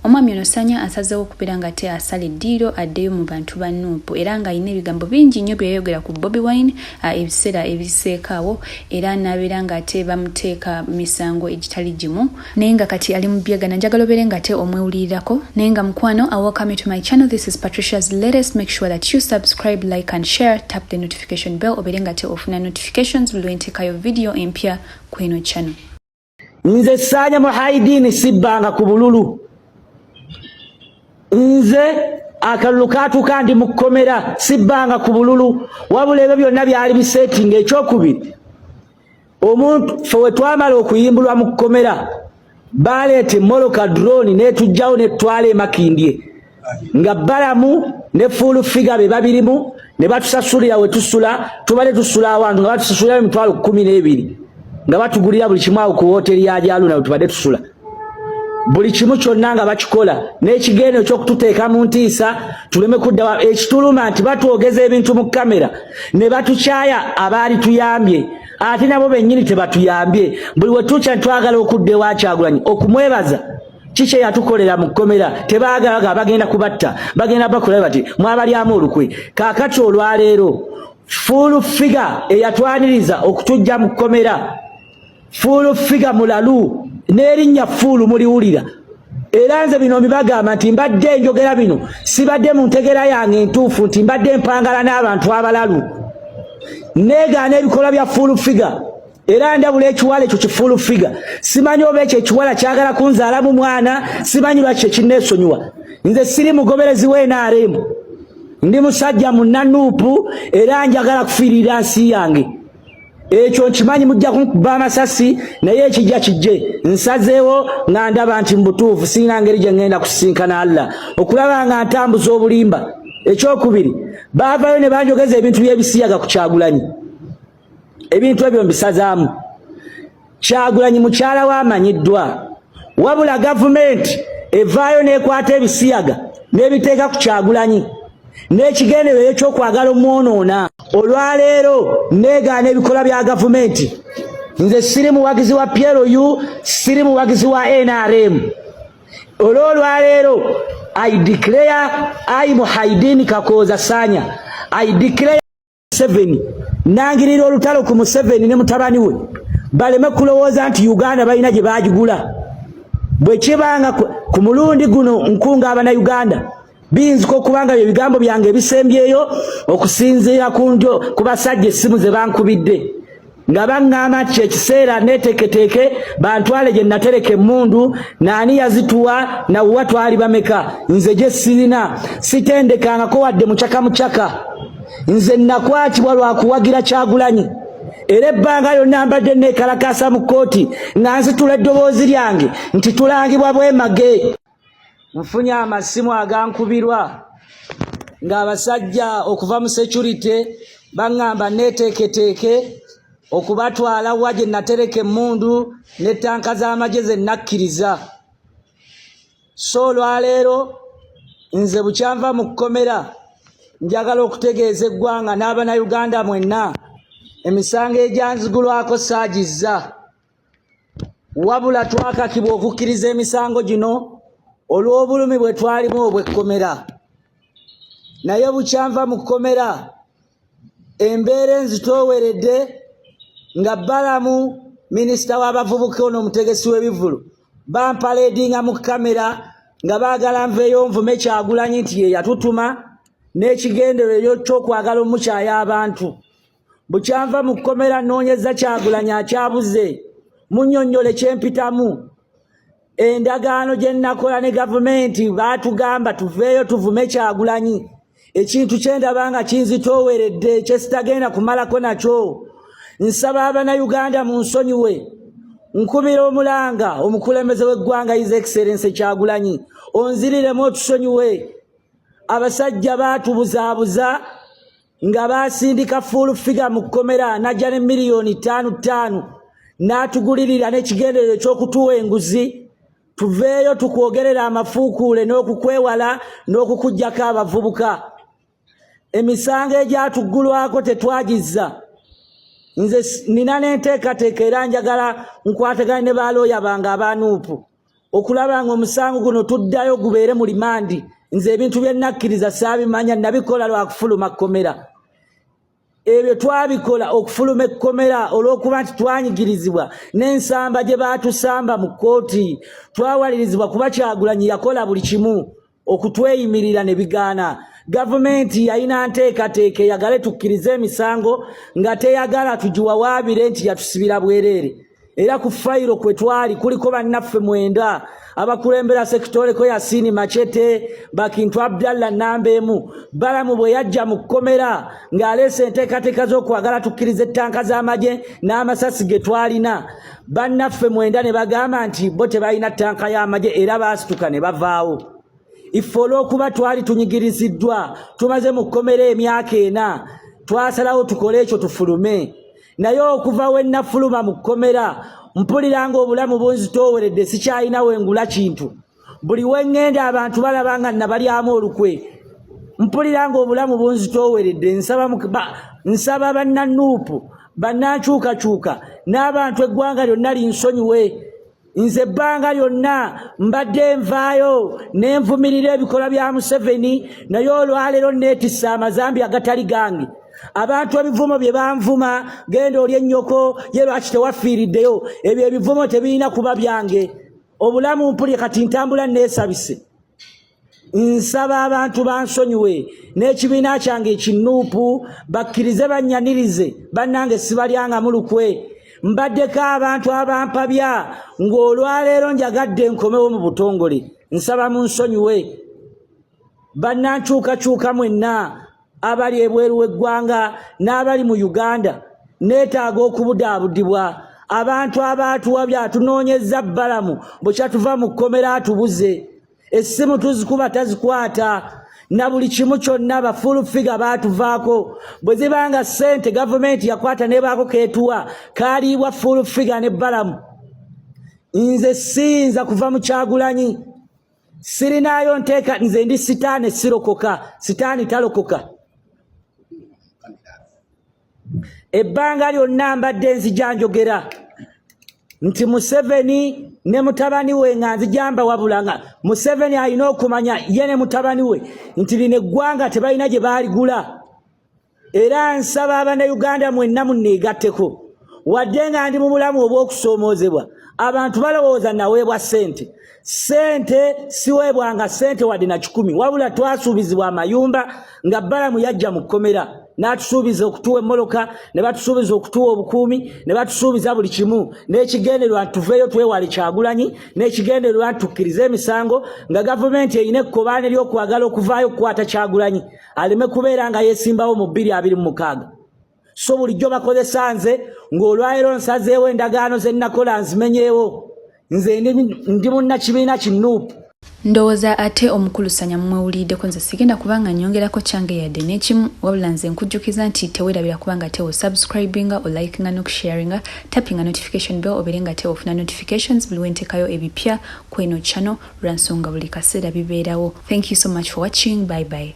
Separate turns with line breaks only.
Omwami ono Sanya asazeewo okubeera nga te asala eddiiro addeyo mu bantu ba Nuupu era ng'alina ebigambo bingi nnyo bye yayogera ku Bobi Wine ebiseera ebiseekaawo era n'abeera ng'ate bamuteeka misango egitali gimu naye nga kati ali mu byegana njagala obeere ng'ate omwewulirirako naye nga mukwano I welcome you to my channel this is Patricia's latest make sure that you subscribe like and share tap the notification bell obeere ng'ate ofuna notifications lwe nteekayo video empya kweno channel nze
saanya muhaidiini sibbanga ku bululu nze akalulu katuuka ndi mukkomera sibbanga ku bululu wabula ebyo byonna byali bisetinga ekyokubiri omuntu fe wetwamala okuyimbulwa mu kkomera baleeta emoloka drone netujjawo netwala emakindye nga balamu ne fuulu figa be babirimu ne batusasulira we tusula tubale tusula awantu nga batusasulira emitwalo kkumi n'ebiri nga batugulira buli kimu awo ku wooteri ya jaluna we tubadde tusula buli kimu kyonna nga bakikola n'ekigendo ekyokututeeka mu ntiisa tuleme kudda ekituluma nti batwogeza ebintu mu kamera ne batukyaya abaali tuyambye ate nabo bennyini tebatuyambye buli wetukya twagala okudda ewakyagulanyi okumwebaza kiki eyatukolera mu kkomera tebaagalaga bagenda kubatta bagenda bakola bati mwabalyamu olukwe kaakati olwaleero fuulu figa eyatwaniriza okutujja mu kkomera fuulu figa mulalu n'erinnya fuulu muliwulira era nze bino mbibagamba nti mbadde njogera bino sibadde mu ntegera yange entuufu nti mbadde mpangala n'abantu abalalu negaana ebikolwa bya fuulu figa era ndabula ekiwala ekyo kifuulu figa simanyi oba ekyo ekiwala kyagala kunzaalamu mwana simanyi lwaki kyekinneesonyiwa nze siri mugoberezi w'nrm ndi musajja munanuupu era njagala kufiirira nsi yange ekyo nkimanyi mujja kunkuba amasasi naye ekijja kijje nsazeewo nga ndaba nti mubutuufu sirina ngeri gye ŋŋenda kusisinkana allah okulaba nga ntambuza obulimba ekyokubiri baavayo ne banjogeza ebintu by'ebisiyaga ku kyagulanyi ebintu ebyo mbisazaamu kyagulanyi mukyala we amanyiddwa wabula gavumenti evaayo n'ekwata ebisiyaga n'ebiteeka ku kyagulanyi n'ekigenderero ekyokwagala omwonoona olwaleero negaana ebikolwa bya gavumenti nze siri muwagizi wa plu siri muwagizi wa nrm olwolwaleero i declare i muhaidini kakooza sanya i declare Museveni nangirira olutalo ku Museveni ne mutabani we baleme kulowooza nti Uganda balina gye baagigula bwe kibanga ku mulundi guno nkunga abana Uganda biyinzika okubanga bye bigambo byange ebisembyeyo okusinziira ku njo ku basajja essimu ze bankubidde nga baŋŋamba nti kyekiseera neeteketeke bantwale gye natereka emmundu naani yazituwa nawa twali bameka nze gye sirina sitendekangako wadde mucaka mucaka nze nakwatibwa lwa kuwagira kyagulanyi era ebbanga lyonna mbadde neekalakaasa mu kkooti nga nzitula eddoboozi lyange nti tulangibwa bwemage nfunye amasimu agankubirwa ng'abasajja okuva mu securite baŋŋamba neeteeketeeke okubatwala wa gye natereka emmundu ne ttanka z'amagye ze nakkiriza so olwaleero nze bukyanva mu kkomera njagala okutegeeza eggwanga n'abana uganda mwenna emisango egyanzigulwako saagizza wabula twakakibwa okukkiriza emisango gino olw'obulumi bwe twalimu obw'ekkomera naye bukyanva mu kkomera embeera enzitooweredde nga balamu minisita w'abavubuka ono omutegesi w'ebivulu bampaleedinga mu kamera nga baagala nveeyo nvume kyagulanyi nti ye yatutuma n'ekigenderero eky'okwagala omukyayo abantu bukyanva mu kkomera nnoonyeza kyagulanyi akyabuze munyonnyole kyempitamu endagaano gye nnakola ne gavumenti baatugamba tuveeyo tuvume kyagulanyi ekintu kyendaba nga kinzitooweredde kyesitagenda kumalako nakyo nsaba abanayuganda mu nsonyiwe nkubira omulanga omukulembeze w'eggwanga is excellence kyagulanyi onziriremu otusonyiwe abasajja baatubuzaabuza nga baasindika full figure mu kkomera n'ajja ne miliyoni ttaano ttaano n'atugulirira n'ekigenderero eky'okutuwa enguzi tuveeyo tukwogerera amafuukuule n'okukwewala n'okukugyako abavubuka emisango egyatuggulwako tetwagizza nze nina n'enteekateeka era njagala nkwatagane ne baalooya bange abaanuupu okulaba nga omusango guno tuddayo gubeere mu limandi nze ebintu bye nakkiriza saabimanya nabikola lwa kufuluma kkomera ebyo twabikola okufuluma ekkomera olw'okuba nti twanyigirizibwa n'ensamba gye baatusamba mu kkooti twawalirizibwa kuba kyagulanyi yakola buli kimu okutweyimirira ne bigaana gavumenti yalina nteekateeka eyagale tukkirize emisango nga teyagala tugiwawaabire nti yatusibira bwereere era ku fayiro kwe twali kuliko bannaffe mwenda abakulembera sekitoleko yasiini macete bakintu abdallah namba emu balamu bwe yajja mu kkomera ng'aleese enteekateeka z'okwagala tukkiriza ettanka z'amagye n'amasasi ge twalina bannaffe mwenda ne bagamba nti bo tebalina ttanka y'amagye era baasituka ne bavaawo iffe olw'okuba twali tunyigiriziddwa tumaze mu kkomera emyaka ena twasalawo tukole ekyo tufulume naye okuva we nnafuluma mu kkomera mpulira ng'obulamu bunzitooweredde sikyalina wengula kintu buli wengenda abantu balaba nga nabalyamu olukwe mpulira nga obulamu bunzitooweredde nsaba nsaba bannanuupu bannankyukakyuka n'abantu eggwanga lyonna linsonyiwe nze ebbanga lyonna mbadde nvaayo ne nvumirira ebikolwa bya museveni naye olwaleero neetisse amazambi agatali gange abantu ebivumo bye banvuma genda oli ennyoko ye lwaki tewafiiriddeyo ebyo ebivumo tebirina kuba byange obulamu mpulye kati ntambula neesabise nsaba abantu bansonyiwe n'ekibiina kyange ekinuupu bakkirize bannyanirize bannange sibalyangamu lukwe mbaddeko abantu abampabya ng'olwaleero njagadde nkomewo mu butongole nsaba mu nsonyiwe bannankyukakyuka mwenna abali ebweru w'eggwanga n'abali mu uganda neetaaga okubudaabudibwa abantu abaatuwa byatunoonyezza bbalamu bwekyatuva mu kkomera atubuze essimu tuzikuba tazikwata na buli kimu kyonna bafulufiga baatuvaako bwe ziba nga ssente gavumenti yakwata nebaako keetuwa kaaliibwa fulufiga ne bbalamu nze siyinza kuva mu kyagulanyi sirinaayo nteeka nze ndi sitaani sirokoka sitaani talokoka ebbanga lyonna mbadde nzija njogera nti museveni ne mutabani we nga nzijamba wabula nga museveni alina okumanya ye ne mutabani we nti lino eggwanga tebalina gye baaligula era nsaba abanauganda mwenna muneegatteko wadde nga ndi mu bulamu obw'okusoomoozebwa abantu balowooza naweebwa ssente ssente siweebwanga ssente wadde na kikumi wabula twasuubizibwa amayumba nga balamu yajja mu kkomera n'atusuubiza okutuwa emmoloka ne batusuubiza okutuwa obukuumi ne batusuubiza buli kimu n'ekigendererwa nti tuveeyo twewale kyagulanyi n'ekigendererwa nti tukkirize emisango nga gavumenti erina ekkobaane ly'okwagala okuvaayo okukwata kyagulanyi aleme kubeera nga yesimbawo mu bbiri abiri mu mukaaga so bulijjo bakozesa nze ng'olwalero nsazeewo endagaano ze nnakola nzimenyeewo nze ndi munnakibiina ki nuupu ndowooza
ate omukulusanya mumwewulirideko nze sigenda kubanga nyongerako kyange yadde n'ekimu wabula nze nkujjukiza nti tewerabira kubanga tewo subscribinga olikinga nokusharinga tappinga notification bell obeere nga tewo ofuna notifications buli wentekayo ebipya kweno channel lwansonga buli kaseera bibeerawo thank you so much for watching bye bye